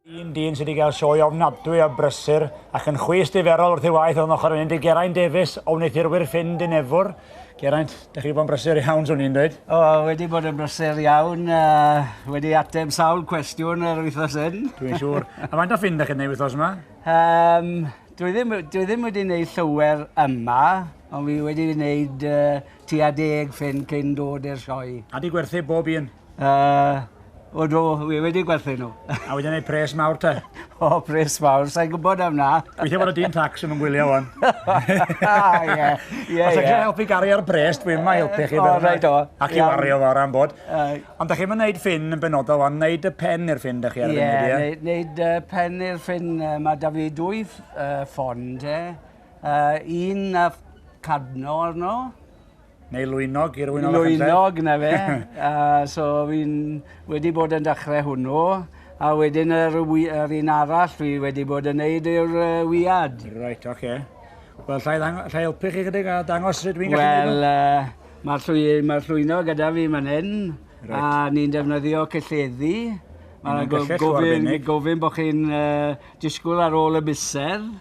Un dyn sydd wedi cael sioe ofnadwy a brysur ac yn chwys diferol wrth ei waith o'n ochr mynd i Geraint Davies o wneuthurwyr ffyn Dinefwr. Geraint, da chi wedi bod yn brysur iawn, swn i'n dweud. O, wedi bod yn brysur iawn, uh, wedi ateb sawl cwestiwn yr wythnos hyn. Dwi'n siŵr. a faint o ffyn da chi'n ei wythnos yma? Um, dwi, ddim, dwi ddim wedi gwneud llawer yma, ond fi wedi gwneud uh, tua deg ffyn cyn dod i'r sioe. A di gwerthu bob un? Uh, o do, wi wedi gwerthu nhw. A wedi gwneud pres mawr te? o, pres mawr, sa'n gwybod am na. Gweithio bod y dyn tax yn ymwylio o'n. Ah, ie, ie, Os ydych helpu gari ar bres, dwi'n ma helpu chi. O, rhaid o. Ac i wario fawr am bod. Ond da chi'n mynd wneud ffyn yn benodol o'n, wneud y pen i'r ffyn da chi ar y funud, ie? Ie, wneud pen i'r ffyn, mae da fi dwy ffond, ie. Uh, un na cadno arno. Neu lwynog i'r wynog allan. Lwynog, na fe. uh, so fi'n wedi bod yn dechrau hwnnw. A wedyn yr, yr un arall fi wedi bod yn neud yw'r uh, wiad. Right, oce. Okay. Wel, llai, llai helpu chi chydig a dangos sut fi'n gallu gwneud Wel, uh, mae'r llwy, ma llwyno gyda fi man hyn, right. a ni'n defnyddio cylleddi. Mae'n gofyn, gofyn bod chi'n uh, disgwyl ar ôl y miser.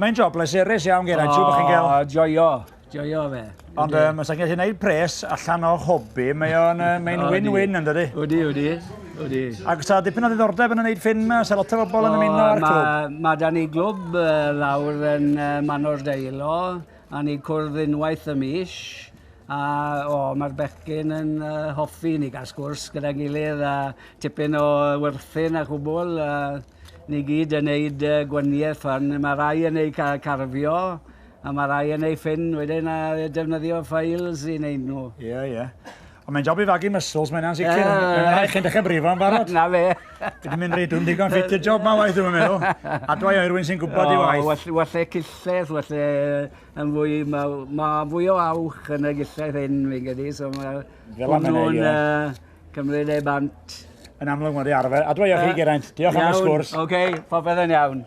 Mae'n job pleserus iawn, Geraint. Siŵr bod chi'n cael... O, joio. Joio fe. Ond um, os ydych chi'n gwneud pres allan o hobi, mae'n mae win-win yn dydy. Wdi, wdi. Wdi. Ac sa dipyn o ddiddordeb yn gwneud ffilm yma, sa lot o bobl yn ymuno â'r clwb. Mae da ni glwb lawr yn Manor Deilo, a ni cwrdd unwaith y mis. A o, mae'r bechgyn yn uh, hoffi ni gael sgwrs gyda'n gilydd a tipyn o werthin a chwbl. Uh, Ni gyd yn neud yy gwanieth fan ma' rai yn eu ca- carfio a ma' rai yn eu ffyn wedyn a defnyddio files i neud nhw. Ie ie. Ond mae'n job i fagu muscles mae hynna'n sicr. Yy. Mae'n rhaid chi'n dechre brifo yn barod. 'Na fe. Dwi 'di mynd reit dwfn digon ffit i'r job ma waeth dwi'm yn meddwl. Adwa i Irwyn sy'n gwbod ei waith. O well well e cillell well e yn fwy ma' ma' fwy o awch yn y gillell hyn fi'n credu so ma' Fel arfer ie. Hwnnw'n yy Cymru neu bant. Yn amlwg mae di arfer. Adwa i chi, Geraint. Diolch am y sgwrs. Iawn, oce, okay, popeth yn iawn.